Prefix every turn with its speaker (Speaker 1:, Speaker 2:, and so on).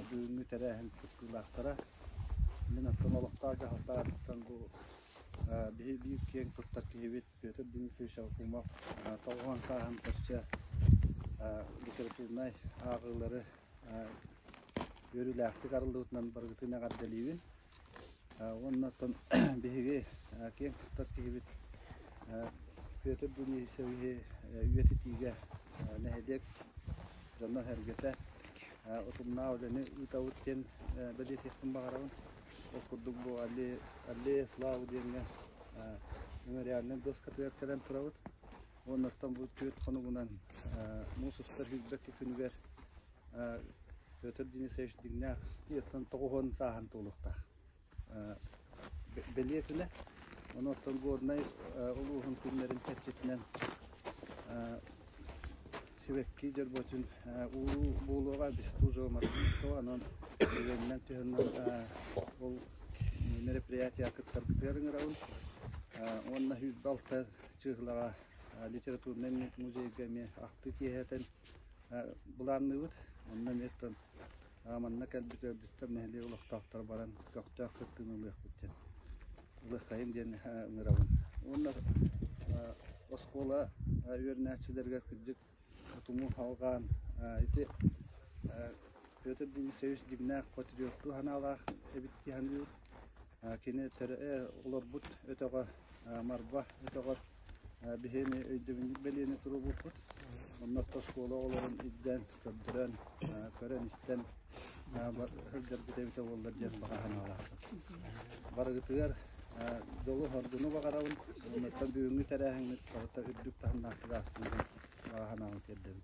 Speaker 1: Бүгүҥҥү тэрээһин кыттыылаахтара, мин оттон олохтоох дьаһалтаҕыттан бу биһи биир киэҥ туттар киһибит Петр Денисович Акумов тоҕуһун сааһын көрсө литературнай ааҕыылары үөрүүлээхтик арыллыбытынан барытын эҕэрдэлиибин. Уонна оттон биһиги киэҥ тустар тигибит Петр Дуневичевиһы үйэтитиигэ нэһилиэк дьоно-сэргэтэ утумнаах үлэни ыытабыт диэн бэлиэтиэхпин баҕарабын. Ол курдук бу Аллея славы диэҥҥэ мемориальнай дуоскатыгар кэлэн турабыт. Уонна оттон бу түөрт хонугунан муус устар сүүрбэккэ күнүгэр Петр Денисович дьиҥнээх ийэттэн тоҕуһун сааһын туолуохтаах бэлиэтинэ. Ону оттон Горнай улууһун күннэрин чэрчитинэн сибэкки дьорботун ууруу буолуоҕа онон түгэнинэн туһанан ол мероприятиеҕа кыттар кытыар ыҥырабын уонна сүүрбэ алта чыыһылаҕа литературнай музейга эмиэ ахтыы киэһэтин Былаанныыбыт онно эмиэ тон манна кэлбит ыалдьыттар нэһилиэк олохтоохторо баран көхтөөх кыттыыны ылыахпыт диэн ылыаххайын диэн ыҥырабын. Уонна оскуола үөрэнээччилэригэр кырдьык туму алҕаан ити Петр Денисович дьиҥнээх патриоттуу санаалаах эбит дии саныыбын. Кини олорбут өтөҕө Марва өтөҕөр биһиэни өйдөбүнньүк бэлиэни туруорбуппут. Онно оскуола оҕолорун ирдээн, көрдөрөн, көрөн-истэн сылдьарбыт эбитэ буоллар диэн баҕа санаалаахпын. Барыгытыгар дьолу, хоргуну баҕарабын. Оннуттан бүгүҥҥү тэрээһиҥҥит барыта үрдүк таһымнаахтык ааспытын баҕа санаабын тиэрдэбин.